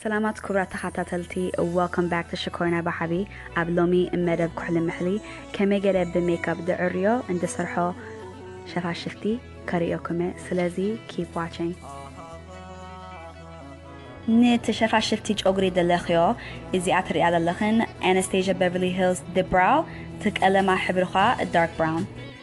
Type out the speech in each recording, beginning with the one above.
ሰላማት ክብራት ተኻታተልቲ Welcome back to ሽኮሪና ብሓቢ ኣብ ሎሚ መደብ ኩሕሊ ምሕሊ ከመይ ገለ ብ ሜክኣፕ ድዕርዮ እንድሰርሖ ሸፋሽፍቲ ከርእዮኩምየ ስለዚ keep watching። ንቲ ሸፋሽፍቲ ጨጉሪ ደለክዮ እዚኣ ትርእያ ዘለክን Anastasia Beverly Hills ብ Brow ቲ ቀለማ ሕብሪ ኳ Dark Brown።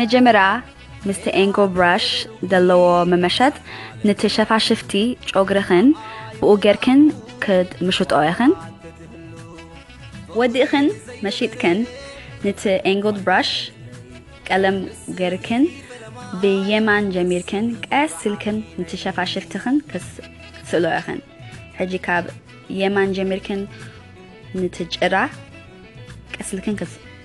መጀመርያ ምስቲ ኤንጎ ብራሽ ዘለዎ መመሸት ንቲ ሸፋሽፍቲ ጮግርኽን ብኡ ጌርክን ክትምሽጦ ኢኽን። ወዲእኽን መሺጥክን ንቲ ኤንጎ ብራሽ ቀለም ጌርክን ብየማን ጀሚርክን ቀስ ኢልክን ንቲ ሸፋሽፍትኽን ክትስእሎ ኢኽን። ሕጂ ካብ የማን ጀሚርክን ንቲ ጭራ ቀስ ኢልክን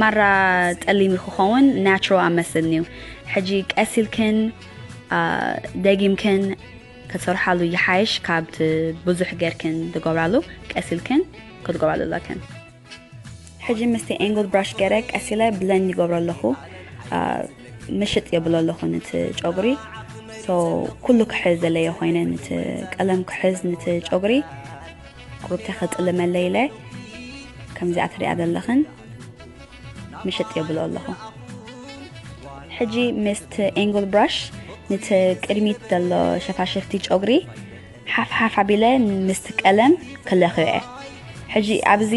ማራ ጸሊም ክኸውን ናቹሮ ኣብ መስልኒዩ ሕጂ ቀስ ኢልክን ደጊምክን ክትሰርሓሉ ይሓይሽ ካብቲ ብዙሕ ገርክን ትገብራሉ ቀስ ኢልክን ክትገብራሉ ኣለክን ሕጂ ምስቲ ኤንግል ብራሽ ገረ ቀስ ኢለ ብለንድ ይገብሮ ኣለኹ ምሽጥ የብሎ ኣለኹ ንቲ ጨጉሪ ኩሉ ክሕዝ ዘለዮ ኮይነ ንቲ ቀለም ክሕዝ ንቲ ጨጉሪ ሩታ ከጥልመለይ ኢለ ከምዚኣ ትሪኣ ዘለኽን ምሽጥ የብሎ ኣለኹ ሕጂ ምስቲ ኤንግል ብራሽ ንቲ ቅድሚት ዘሎ ሸፋሽፍቲ ጨጉሪ ሓፍሓፍ ኣቢለ ምስቲ ቀለም ክለኽዮ እየ ሕጂ ኣብዚ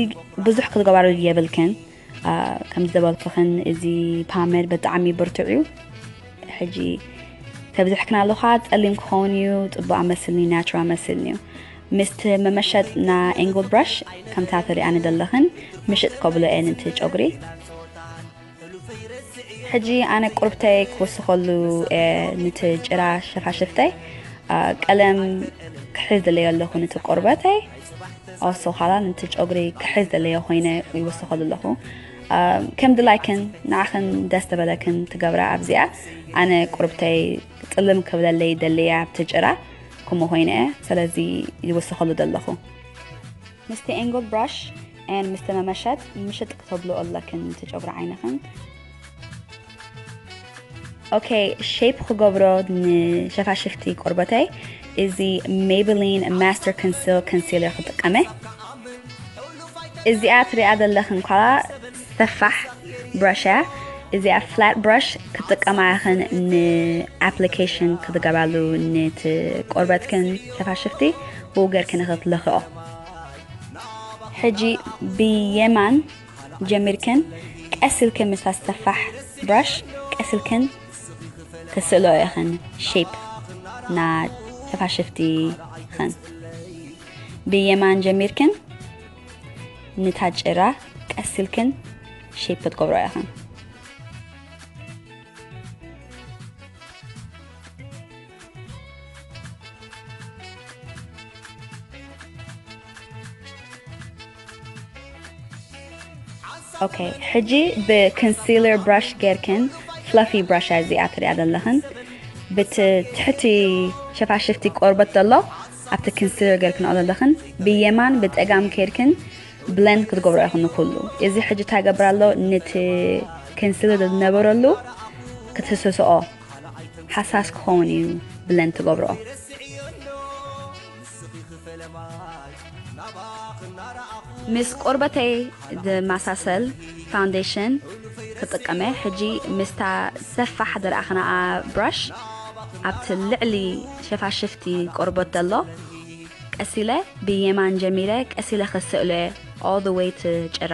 ብዙሕ ክትገባሩ የብልክን ከምዚ ዘበልክኽን እዚ ፓመድ በጣዕሚ ብርቱዕ እዩ ሕጂ ተብዝሕክና ኣለኻ ጸሊም ክኸውን እዩ ጽቡቅ ኣመስልኒ ናቹራ ኣመስልኒ እዩ ምስቲ መመሸጥ ና ኤንግል ብራሽ ከምታ ትሪኣ ንደለኽን ምሽጥ ከብሎ እየን እቲ ጨጉሪ ሕጂ ኣነ ቁርብተይ ክውስኸሉ ንቲ ጭራ ሸፋሽፍተይ ቀለም ክሕዝ ደለዮ ኣለኹ ንቲ ቆርበተይ ኣወሰኻላ ነቲ ጨጉሪ ክሕዝ ደለዮ ኮይነ ይወሰኸሉ ኣለኹ ከም ድላይክን ንዓኽን ደስ ተበለክን ትገብራ ኣብዚኣ ኣነ ቁርብተይ ጥልም ክብለለይ ደለያ ኣብቲ ጭራ ከምኡ ኮይነ ስለዚ ይወሰኸሉ ደለኹ ምስቲ ኤንግል ብራሽ ን ምስቲ መመሸጥ ምሽጥ ክተብሉ ኣለክን እቲ ጨጉሪ ዓይንኽን ኦኬ ሼፕ ክገብሮ ንሸፋሽፍቲ ቆርበተይ እዚ ሜብሊን ማስተር ኮንሲል ኮንሲለር ክጥቀመ እዚኣ ትሪኣ ዘለኽን ኳላ ሰፋሕ ብራሽ እያ እዚኣ ፍላት ብራሽ ክጥቀማ ያኽን ንኣፕሊኬሽን ክትገባሉ ንቲ ቆርበትክን ሸፋሽፍቲ ብኡ ጌርክን ክትለኽኦ ሕጂ ብየማን ጀሚርክን ቀስ ኢልክን ምስታ ሰፋሕ ብራሽ ቀስ ኢልክን ክትስእልኦ ኢኽን ሼፕ ና ሸፋሽፍቲ ኽን ብየማን ጀሚርክን ንታ ጭራ ቀስ ኢልክን ሼፕ ክትገብሮ ኢኽን ኦኬ ሕጂ ብኮንሲለር ብራሽ ጌርክን ፍላፊ ብራሽ እዚኣ ትሪኣ ዘለኽን ብቲ ትሕቲ ሸፋሽፍቲ ቆርበት ዘሎ ኣብቲ ኮንሲለር ጌርክን ዘለኽን ብየማን ብፀጋም ከይድክን ብለንድ ክትገብሮ ይኹን ኩሉ እዚ ሕጂ ታገብር ኣሎ ነቲ ኮንሲለር ዝነበረሉ ክትህስስኦ ሓሳስ ክኸውን እዩ ብለን ትገብርኦ። ምስ ቆርበተይ ዝመሳሰል ፋውንዴሽን ክጥቀመ ሕጂ ምስታ ሰፋሕ ዝረኣኽናኣ ብራሽ ኣብቲ ልዕሊ ሸፋሽፍቲ ቆርበት ዘሎ ቀሲለ ብየማን ጀሚረ ቀሲለ ክስእሎ እየ all the way to ጭራ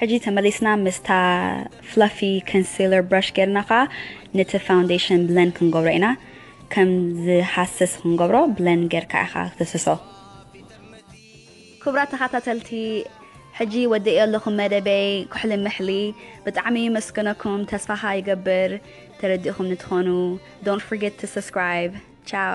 ሕጂ ተመሊስና ምስታ ፍለፊ ከንሲለር ብራሽ ጌርና ከኣ ነቲ ፋውንዴሽን ብለን ክንገብሮ ኢና ከም ዝሃስስ ክንገብሮ ብለን ጌርካ ኢኻ ክትህስሶ። ክቡራት ተኻታተልቲ ሕጂ ወዲኤዮ ኣለኹ መደበይ ኩሕሊ ምሕሊ ብጣዕሚ የመስግነኩም ተስፋኻ ይገብር ተረዲእኹምኒ ትኾኑ don't forget to subscribe ciao